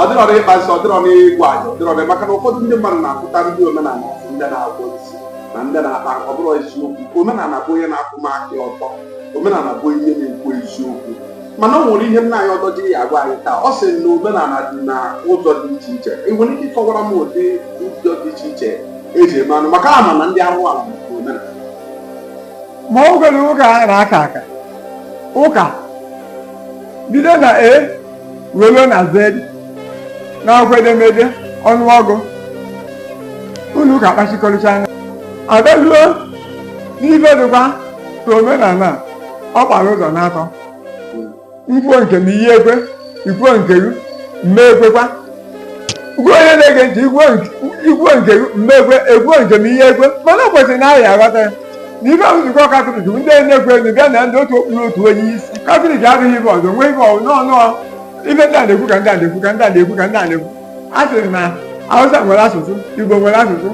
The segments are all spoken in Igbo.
ọ dịrọ na ịkpa nsị ọ dịrọ na ịgwa anyị ọ dịrọ na maka na ụfọdụ ndị mmadụ na-akpọta ndị omenala a sị ndị na-agwọ nsị na ndị na-akpa ọ bụrụ eziokwu omenala bụ onye na-akwụba aka ọtọ omenala bụ ihe na-ekwu eziokwu mana ọ nwere ihe nna anyị ọdọ jiri ya agwa anyị taa ọ sị na omenala dị na ụzọ dị iche iche ị nwere ike ịkọwara m ụdị ụzọ dị iche iche eji eme anụ maka ama m na ndị ahụ ala bụ omenala ma ọ gwere ụka na-aka aka ụka bido na e were na z n'akwụkwọ edemede ọnụọgụ unu ka kpachikọrịcha anya abịaruo n'ife dịkwa ka omenala a, ọ gbara ụzọ n'atọ m kwuo nke m iyi ekwe ikwuo nke gị m ma ekwekwa gwa onye na-ege ntị ikwuo nke- ikwuo nke m ma ekwe ekwuo nke m ihe ekwe mana o kwesịrị na anyị aghọta ya na ife ahụ nzukọ katọlik bụ ndị na-ekwe enu bịa na ndị otu okpuru otu onye isi katọlik adịghị ibe ọzọ nwee ibe ọzọ n'ọnụ ife ndị a na-ekwu ka ndị a na-ekwu ka ndị a na-ekwu ka ndị a na-ekwu a sịrị na hausa nwere asụsụ igbo nwere asụsụ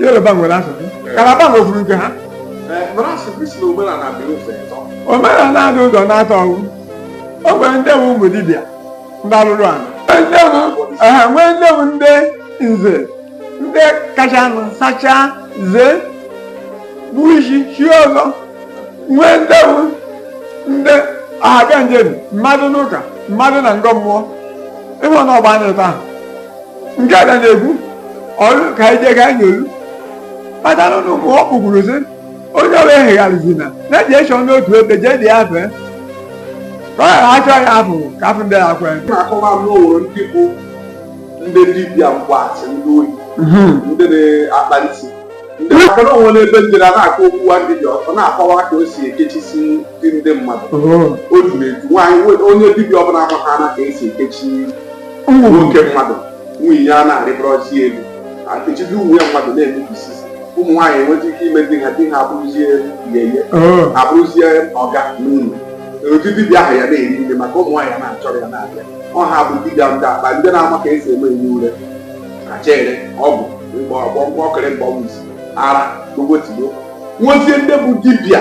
yoruba nwere asụsụ kalaba nwekwuru nke ha mara asụsụ si na omenala dị ụzọ ịtọ omenala dị ụzọ n'atọ ọgwụ o nwere ndị bụ ụmụ dibịa ndị alụrụ ala ndị bụ ehe nwee ndị bụ ndị nze ndị kacha nụ sachaa zee bụ isi chi ọzọ nwee ndị bụ ndị ọhaga njem mmadụ n'ụka mmadụ na ngọ mmụọ ịhụ na ọgba anyị taa nke a ga na-ekwu ọrụ ka anyị jee ka anyị nyolu kpatara ụmụ ọ kpụgburu sị onye ọrụ ehegharịzina na-eji echọ n'otu ebe jee dị ya fee ka ọ ghara achọ ya afụ ka afụ ndị ya kwee na-akọwa m n'ụlọ ndị bụ ndị dibịa mgbaasị ndị oyi ndị na-akpa nsị maka na o nwere ebe m jere a na-akọ okwu nwa dibịa ọ na-akọwa ka o si ekechisi ndị mmadụ o juru eju nwaanyị onye dibịa ọbụla amata na ka esi ekechi nwoke mmadụ nwunye ya na-arịbụrọzi elu ekechizi ụmụ ya mmadụ na-emebisi ụmụ nwaanyị enweta ike ime di ha di ha abụrụzie yeye ha abụrụzie ọga n'ụlọ ụdị dibịa ahụ ya na-eri nri maka ụmụ nwaanyị a na-achọrọ ya na-abịa ọ ha bụ dibịa ndị akpa ndị na-ama ka esi eme ihe ure kachere ọgwụ mgbọrọgwụ ọkịrị mgbawa isi ara gbogbo tigbo nwezie ndị bụ dibịa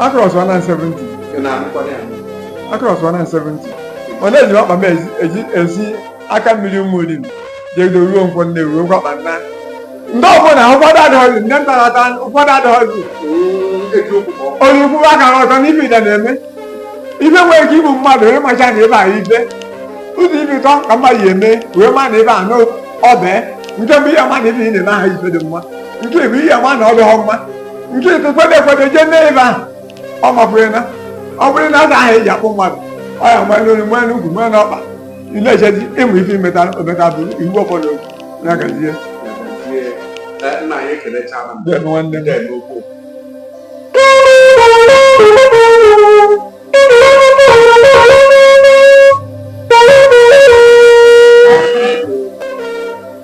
Across 170. Across 170. Ọ na-eji akpa m ezi- eji ezi aka mmiri ụmụ olili jegide ruo nkwọ nne ruo nkwọ akpa nna. Ndị ọbụla ụfọdụ adịghọzi ndị nta na-ata ụfọdụ adịghọzi. Onye ukwu aka ọzọ n'ife ide na-eme. Ife nwere ike igbu mmadụ wee macha na ebe a ife. Ụzọ ife ụtọ ka mmadụ ya eme wee ma na ebe a n'ọbee. Nke bụ ihe ma na ife ị na-eme aha ife dị mma. Nke bụ ihe ma na ọ dịghọ mma. nke ekwekwe ekwekwe jee mee ebe ahụ ọ mapụrụ na ọ bụrụ na aza ahụ eji akpụ mmadụ ọ ya nwee n'olu nwee n'ukwu nwee n'ọkpa ị na-echezi ịmụ ife imeta ometa bụ iwu ọbụla okwu na-agazie nna anyị ekelechala m ebe nwanne m na-eme okwu